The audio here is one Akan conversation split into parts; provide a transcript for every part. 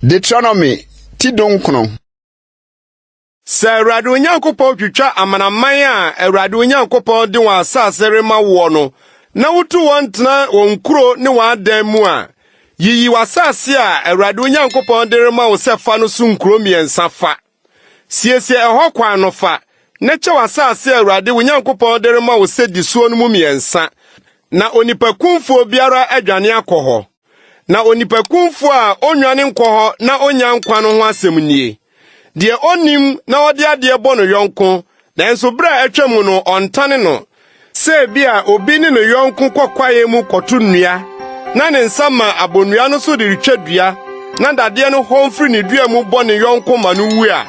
Deuteronomy ti dunkron. Sɛ Awurade Onyankopɔn twitwa amanaman a Awurade Onyankopɔn de wɔn asase rema woɔ no na wotu wɔn tena wɔn nkuro ne wɔn adan mu a, yiyi w'asase a Awurade Onyankopɔn de rema wo sɛ fa no so nkuro mmiɛnsa fa. Siesie ɛhɔ kwan no fa, na kyɛ w'asase a Awurade, wo Nyankopɔn de rema wo sɛ di soɔ no mu mmiɛnsa, na onipakumfoɔ biara adwane akɔ hɔ. Na onipakumfoɔ a ɔnnwane nkɔ hɔ na ɔnya nkwa no ho asɛm nie, Deɛ ɔnnim na ɔde adeɛ bɔ no yɔnko, nanso berɛ a atwam no ɔntane no, Sɛ ebia obi ne ne yɔnko kɔ kwaeɛ mu kɔto nnua na ne nsa ma abɔ nnua no so de retwa dua na dadeɛ no hɔn firi ne dua mu bɔ ne yɔnko ma no wu a,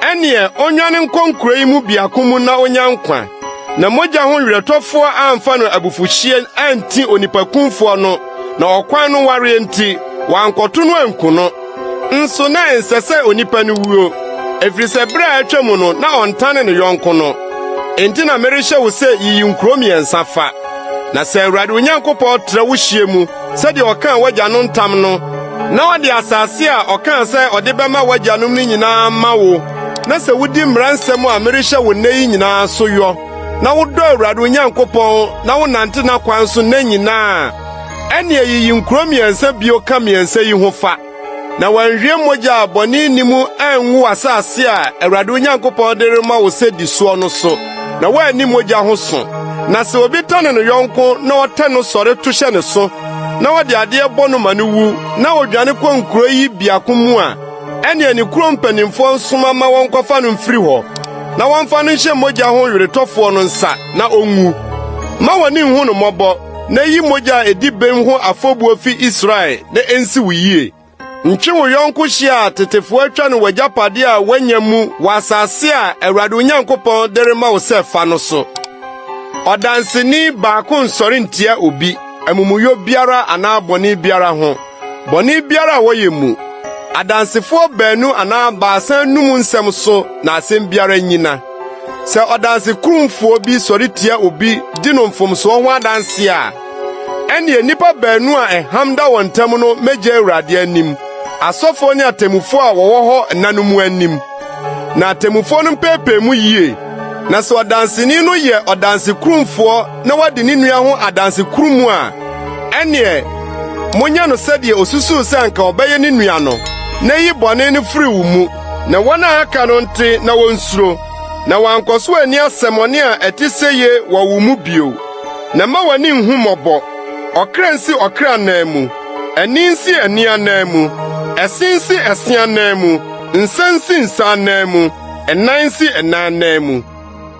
ɛnneɛ ɔnnwane nkɔ nkuro yi mu biako mu na ɔnya nkwa, na mogya ho werɛtɔfoɔ amfa no abufuhyeɛ anti onipakumfoɔ no, na ɔkwan no wareɛ nti, wankɔto no anku no. Nso na ɛnsɛ sɛ onipa no wuo, ɛfiri sɛ berɛ a atwa mu no na ɔntane ne yɔnko no. Enti na merehyɛ wo sɛ yiyi nkuro mmiɛnsa fa, na sɛ Awurade Onyankopɔn tra wo hyeɛ mu sɛdeɛ ɔkaa w'agya no ntam no, na ɔde asase a ɔkaa sɛ ɔde bɛma w'agyanom no nyinaa ma wo, na sɛ wodi mmara nsɛm a merehyɛ wo nnɛ yi nyinaa so yɔ, na wodɔ Awurade Onyankopɔn na wonante n'akwan so nna nyinaa Ɛnneɛ yiyi nkuro mmiɛnsa bio ka mmiɛnsa yi ho fa, na wɔanhwie mogya a bɔne nni mu angu asase a Awurade Onyankopɔn de rema wo sɛ di soɔ no so, na woanni mogya ho so. Na sɛ obi tane ne yɔnko na ɔtɛn no sɔre to hyɛ ne so, na ɔde adeɛ bɔ no ma no wu, na ɔdwane kɔ nkuro yi biako mu a, ɛnneɛ ne kuro mpanimfoɔ nsoma ma wɔnkɔfa no mfiri hɔ, na wɔmfa no nhyɛ mogya ho weretɔfoɔ no nsa, na ɔnwu. Mma w'ani nhu no mmɔbɔ. na yi mogya a edi bem ho afɔbuo fi Israel na ensi wo yie. Ntwe wo yɔnko hye a tetefoɔ atwa no w'agyapadeɛ a woanya mu wɔ asase a Awurade wo Nyankopɔn de rema wo sɛ fa no so. Ɔdanseni baako nsɔre ntia obi amumuyɔ biara anaa bɔne biara ho, bɔne biara a wɔyɛ mu. Adansefoɔ baanu anaa baasa num nsɛm so na asɛm biara nnyina. Sɛ ɔdansekurumfoɔ bi sɔre tia obi di no mfomsoɔ ho adanse a, ɛnneɛ nnipa baanu a ɛham da wɔn ntam no mmɛgye Awurade anim, asɔfoɔ ne atemmufoɔ a wɔwɔ hɔ nna no mu anim. Na atemmufoɔ no mpeepee mu yie. Na sɛ ɔdanseni no yɛ ɔdansekurumfoɔ na wadi ne nua ho adanse kurumu a, ɛnneɛ monyɛ no sɛdeɛ osusuw sɛ anka ɔbɛyɛ ne nua no, na yi bɔne no firi wo mu. na wɔn a aka no nte na wonsuro, na wɔankɔ so anni asɛmmɔne a ɛte sɛ ye wɔ wo mu bio. Na mma w'ani nhu mmɔbɔ. Ɔkra nsi ɔkra anan mu, ani nsi ani anan mu, ɛse nsi ɛse anan mu, nsa nsi nsa anan mu, ɛnan nsi ɛnan anan mu.